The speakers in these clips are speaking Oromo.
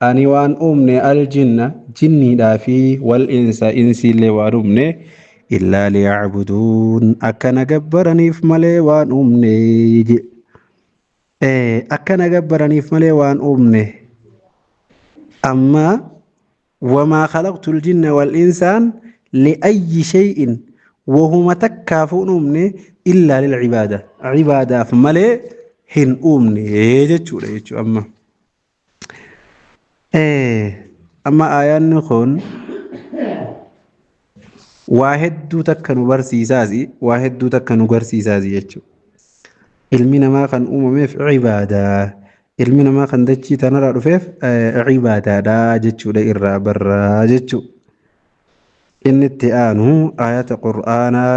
Ani waan uumne al-jinna, jinniidhaa fi wal-insa, insiillee waan uumne, illaa liya'buduun, akka na gabbaraniif malee waan uumne je. Ee, akka na gabbaraniif malee waan uumne. Amma wamaa khalaqtul jinna wal insaan li'ayyi shay'in wahuma takkaafuu hin uumne illaa lil cibaada. Cibaadaaf malee hin uumne jechuudha jechuudha amma. Amma aayaanni kun waa hedduu takka nu barsiisaasi waa hedduu takka nu garsiisaasi jechuudha. Ilmi namaa kan uumameef ibaadaa ilmi namaa kan dachii tanarraa dhufeef ibaadaadha jechuudha irraa barraa jechuudha. Inni itti aanu ayata qur'aanaa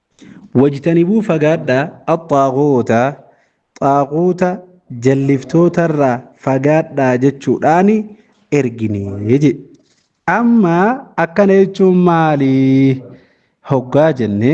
Wajtanibuu fagaadhaa axxaagoota xaaquuta jalliftootarraa fagaadhaa jechuudhaan ergine jedhe. Amma akkana jechuun maali hoggaa jenne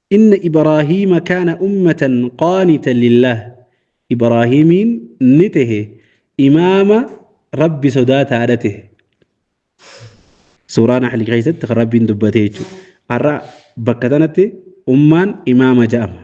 Inna Ibraahiima kaana ummatan qaanitan lillaah Ibraahiimiin ni tehe imaama Rabbi sodaataadha tehe. Suuraa Nahl keessatti kan Rabbiin dubbate jechuudha. Har'a bakka tanatti ummaan imaama ja'ama.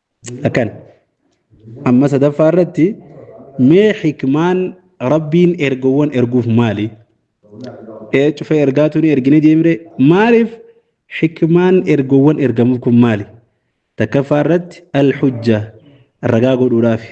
akkan amma sadaffaa irratti mee hikmaan rabbiin ergowwan erguuf maali ee cufee ergaa tuni ergine deemre maaliif hikmaan ergowwan ergamuuf kun maali takkaffaa irratti alhujja ragaa godhuudhaafi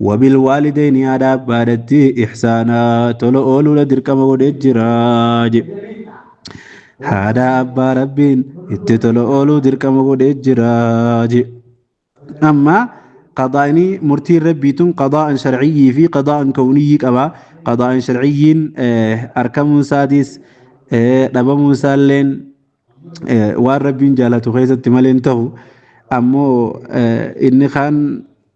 Wabil waalidayni haadha abbaadhatti ihsaana tola ooluudha dirqama godhee jira je. Haadha abbaa rabbiin itti tola ooluu dirqama godhee jira je. Amma qadaa'ni murtiin rabbii tun qadaa'an sharciyyii fi qadaa'an kawniyyii qaba. Qadaa'an sharciyyiin arkamuun isaatis dhabamuun isaalleen waan rabbiin jaalatu keessatti malee hin ta'u. Ammoo inni kaan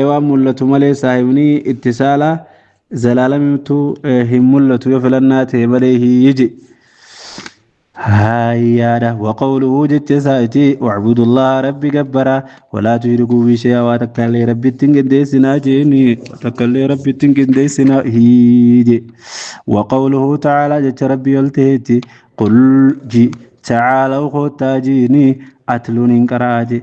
e waan mul'atu malee saahibni itti saala zalaalamtu hin mul'atu yoo filannaa ta'e malee hiyyi hayyaadha waqawluhu jecha isaati wacbudullaha rabbi gabbara walaa tushirikuu bi shay'a waa takka illee rabbitti hin qindeessinaa jeeni takka illee rabbitti hin qindeessinaa hiyye waqawluhu ta'aalaa jecha rabbi ol ta'eeti qul ji ta'aalaw koottaa jiini atluun hin qara'a jee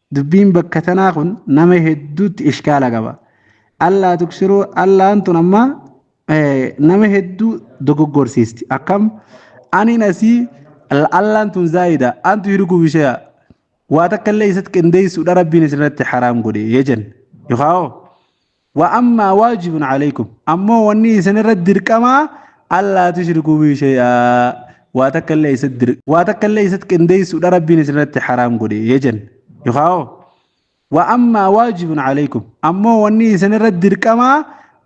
Dubbiin bakka tanaa kun nama hedduutti ishkaala qaba. Allaa tuksiruu Allaan tun amma nama hedduu dogoggorsiisti. Akkam aniin asii Allaan tun zaayida antu hirikuu bisheeya. Waa takka illee isatti qindeessuudha rabbiin isirratti haraam godhe jenne. Yookaan Wa ammaa waajibun alaykum ammoo wanni isin irratti dirqamaa allaa tushrikuu bii shay'aa waa takka illee isatti dir waa takka illee isatti qindeessuudha rabbiin isin irratti haraam godhe jejan yookaa'oo wa ammaa waajibun alaykum ammoo wanni isin irratti dirqamaa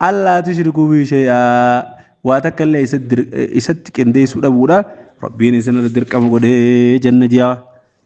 allaa tushrikuu bii shay'aa waa takka illee isatti dir isatti qindeessuu dhabuudha rabbiin isin irratti dirqama godhe janna jiyaa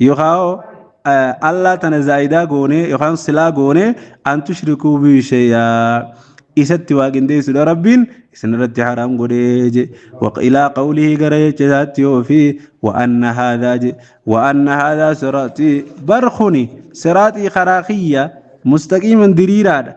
Yookaa Allaa tana zaa'idaa goonee yookaan silaa goonee an tushrikuu bihi shay'aa isatti waa qindeessuudha rabbiin isin irratti haraam godhee je ilaa qawlihi gara jecha isaatti yoo fi wa'anna haadaa je wa'anna haadaa siraaxii bar kuni siraaxii karaa kiyya mustaqiiman diriiraadha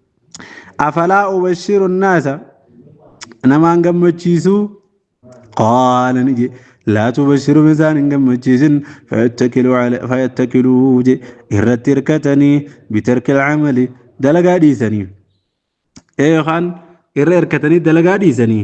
afalaa ubashiru naasa namaan gammachiisuu qaala ni jedhe laa tubashiru isaan hin gammachiisin fayattakilu ala- fayattakilu je irratti hirkatanii bitarkil camali dalagaa dhiisanii ee yookaan irra hirkatanii dalagaa dhiisanii